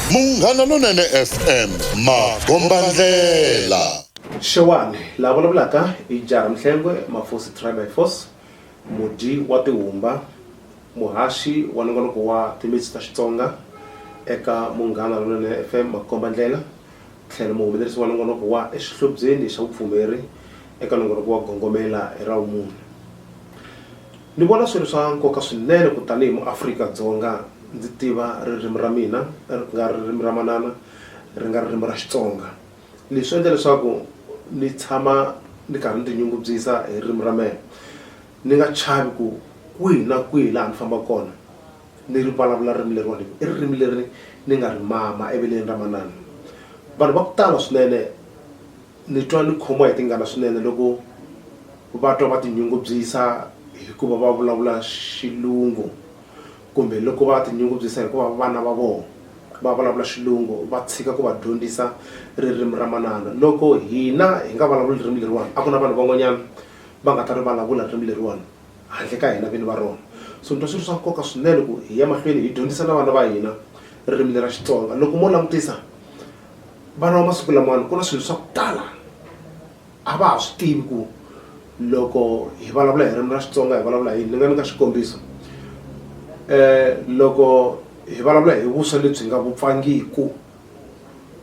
Munghana Lonene FM makombandlela. Xewani, la vulavulaka i Jara Mhlengwe, Mafosi Try by Force, mudyi wa tihumba, muhaxi wa nongonoko wa timitsu ta Xitsonga eka Munghana Lonene FM makombandlela, tlhelo muhumelerisi wa nongonoko wa Exihlobyeni xa vupfumeri eka nongonoko wa Gongomela hi ra Vumune. Ni vona swi ri swa nkoka swinene ku tanihi muAfrika Dzonga ndzi tiva ririmi ra mina ri nga ririmi ra manana ri nga ririmi ra Xitsonga. Leswi swi endla leswaku ni tshama ni karhi ni ti nyungubyisa hi ririmi ra mehe ni nga chavi ku kwihi na kwihi laha ni fambaka kona ni ri vulavula ririmi leriwani hi ku i ririmi leri ni nga ri mama eveleni ra manana. Vanhu va ku tala swinene Ni twa ni khomiwa hi tingana swinene loko va twa va tinyungubyisa hikuva va vulavula Xilungu kumbe loko va tinyungubyisa hikuva vana va vona va vulavula Xilungu va tshika ku va dyondzisa ririmi ra manana. Loko hina hi nga vulavuli ririmi leriwani a ku na vanhu van'wanyana va nga ta ri vulavula ririmi leriwani handle ka hina vini va rona. So ni twa swi ri swa nkoka swinene ku hi ya mahlweni hi dyondzisa na vana va hina ririmi leri ra Xitsonga. Loko mo langutisa. vana va masiku lamawani ku na swilo swa ku tala a va ha swi tivi ku loko hi vulavula hi ririmi ra xitsonga hi vulavula hi yini ni nga nyika xikombiso um loko hi vulavula hi vuswa lebyi nga vupfangiku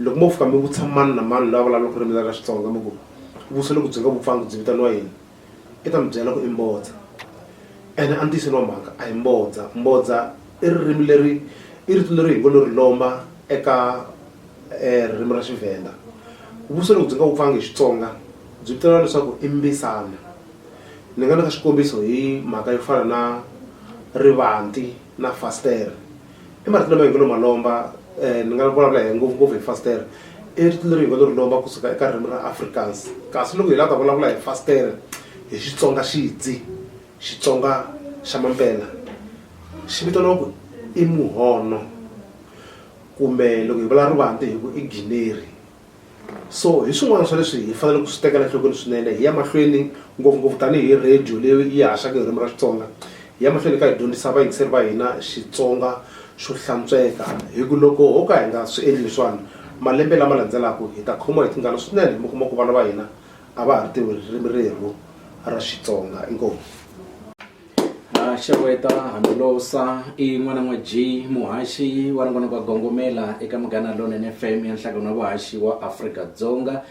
loko mo fika mi vutisa mani na mani loyi a vulavulaka ririmi ra xitsonga mi ku vuswa loko byi nga vupfangi byi vitaniwa yini i ta mi byela ku i mbodza ene a ntiyiseni wa mhaka a hi mbodza mbodza i ririmi leri i rito leri hi ngo lo ri lomba eka um ririmi ra xivhenda vuso loko byi nga wupfangi hi xitsonga byi vitaniwa leswaku i mbisana ni nga ni ka xikombiso hi mhaka yo fana na rivanti na fastere i marito lama hi ngo lo ma lomba um ni nga vulavula hi ngopfungopfu hi fastere i rito leri hi ngo lo ri lomba kusuka eka ririmi ra africans kasi loko hi lava ta vulavula hi fastere hi xitsonga xidzi xitsonga xa mampela xi vitaniwa ku i muhono kumbe loko hi vula rivanti hi ku i gineri so hi swin'wana swa leswi hi faneleke ku swi tekela nhlokweni swinene hi ya mahlweni ngopfungopfu tanihi radio leyi yi haxaka ririmi ra xitsonga hi ya mahlweni ka hi dyondzisa vayingiseri va hina xitsonga xo hlantsweka hi ku loko ho ka hi nga swi endli leswiwani malembe lama landzelaka hi ta khomiwa hi tingana swinene mi kuma ku vana va hina a va ha ri tivi ririmi rerhu ra xitsonga inkomu Ah, xeweta hambilosa i n'wana n'wa g muhaxi wa rin'wana kwa gongomela eka munghana lonene fm ya nhlangano wa vuhaxi wa afrika-dzonga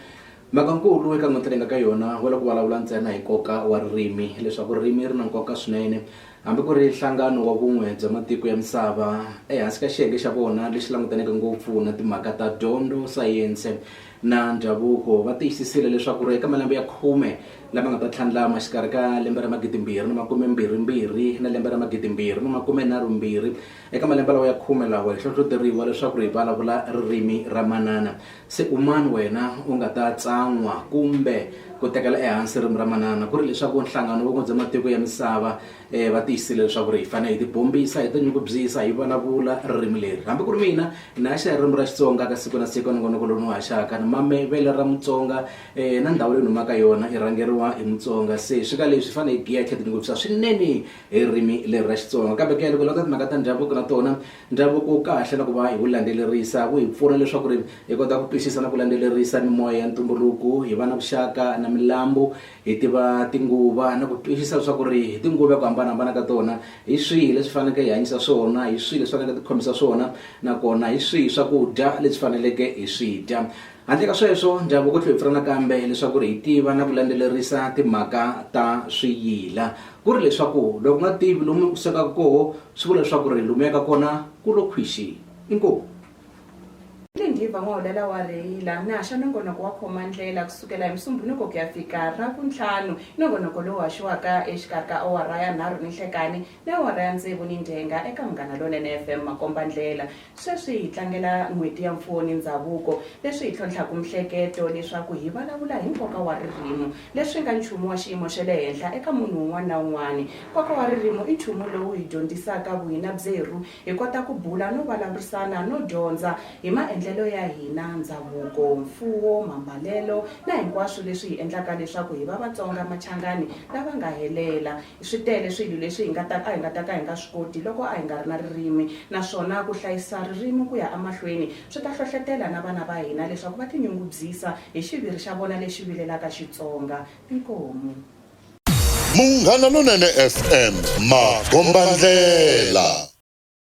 mhaka nkulu eka n'winti leyi nga ka yona wa loko vulavula ntsena hi nkoka wa ririmi leswaku ririmi ri na nkoka swinene hambi ku ri nhlangano wa vun'we bya matiko ya misava ehansi ka xiyenge xa vona lexi langutaneke ngopfu na timhaka ta dyondzo sayense na ndhavuko va tiyisisile leswaku eka malembe ya khume lama nga ta tlhandlama xikarhi ka lembe ra magidimbirhi ni makume mbirhimbirhi na lembe ra magidimbirhi ni makume nharhumbirhi eka malembe lawa ya khume lawa hi hlohloteriwa leswaku ri hi vulavula ririmi ra manana se umani wena u nga ta tsan'wa kumbe ku tekela ehansi ririmi ra manana ku ri leswaku nhlangano wun'we bya matiko ya misava va tiyisile leswaku ri hi fanele hi tibombisa hi tinyungubyisa hi vulavula ririmi leri hambi ku ri mina ni haxa ririmi ra xitsonga ka siku na siku nongonoko lowu ni wu haxaka ni mame vele ra mutsonga um na ndhawu leyi ni humaka yona i rhangeriwa hi mutsonga se swi ka leswi hi fanele hi giya hi tlhe tinyungubyisa swinene hi ririmi leri ra xitsonga kambe ku ya loko lata timhaka ta ndhavuko na tona ndhavuko wu kahle na ku va hi wu landzelerisa wu hi pfuna leswaku ri hi kota ku twisisa na ku landzelerisa mimoya ya ntumbuluko hi va na vuxaka na milambu Hi tiva tinguva na ku twisisa leswaku ri hi tinguva hi ku hambanahambana ka tona hi swihi leswi faneleke hi hanyisa swona hi swihi leswi faneleke ti khomisa swona nakona hi swihi swakudya leswi faneleke hi swi dya handle ka sweswo ndhavuko tlhe hi pfuna nakambe leswaku ri hi tiva na ku landzelerisa timhaka ta swiyila ku ri leswaku loko nga tivi lomu u sukaku koho swi vula leswaku ri lomu yaka kona ku lo khwixi inkomu. Ni ngiva n'waulala wa rheyila, mi haxa nongonoko wa khoma-ndlela ku sukela hi Musumbunuko ku ya fika Ravuntlhanu, nongonoko lowu haxiwaka exikarhi ka awara ya nharhu ninhlekani ni awara ya ntsevu nindyengha eka Munghana Lonene FM makomba-ndlela. Sweswi hi tlangela N'hweti ya Mfuwo ni Ndzhavuko, leswi hi tlhontlhaka mihleketo leswaku hi valavula hi nkoka wa ririmo, leswi nga nchumu wa xiyimo xa le henhla eka munhu un'wana na un'wana. Nkoka wa ririmo i nchumu lowu hi dyondzisaka vuhina byerhu Hi kota ku bula no vulavurisana no dyondza hi maendlelo ya hina, ndzhavuko, mfuwo, mambalelo na hinkwaswo leswi hi endlaka leswaku hi va Vatsonga Machangani lava nga helela. Swi tele swilo leswi hi nga ta a hi nga ta ka hi nga swi koti loko a hi nga ri na ririmi naswona ku hlayisa ririmi ku ya emahlweni swi ta hlohlotela na vana va hina leswaku va tinyungubyisa hi xiviri xa vona lexi vilelaka Xitsonga. Inkomu. Munghana Lonene FM, Magombandlela.